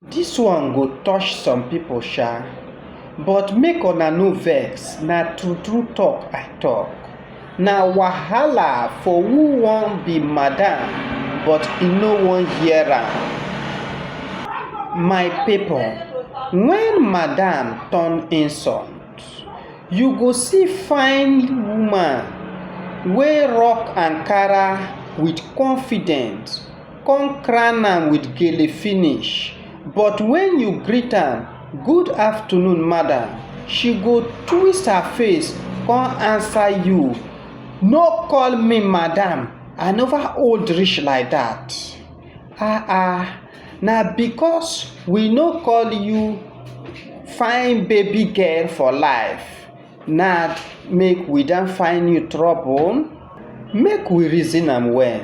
Dis one go touch some pipo sha, but make una no vex, na true true talk I talk. Na wahala for who wan be madam but e no wan hear am. My pipo, wen madam turn insult, you go see fine woman wey rock ankara with confidence. con crown am with gele finish, but when you greet am good afternoon madam, she go twist her face con answer you no call me madam I never old reach like that ah ah na because we no call you fine baby girl for life. Nah make we don find new trouble? Make we reason am well.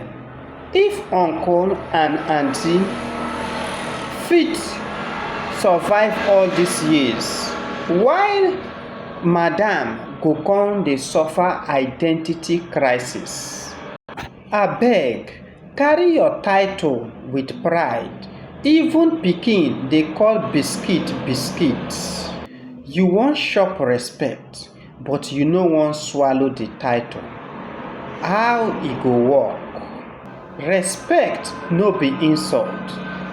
If uncle and auntie fit survive all these years, why madam go come dey suffer identity crisis? Abeg Carry your title with pride, even pikin dey call biscuit biscuit. You wan chop respect but you no wan swallow the title, how e go work? Respect no be insult,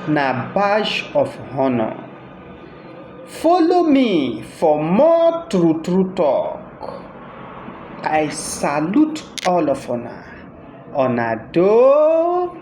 na badge of honour. Follow me for more true true talk. I salute all of una, una doh.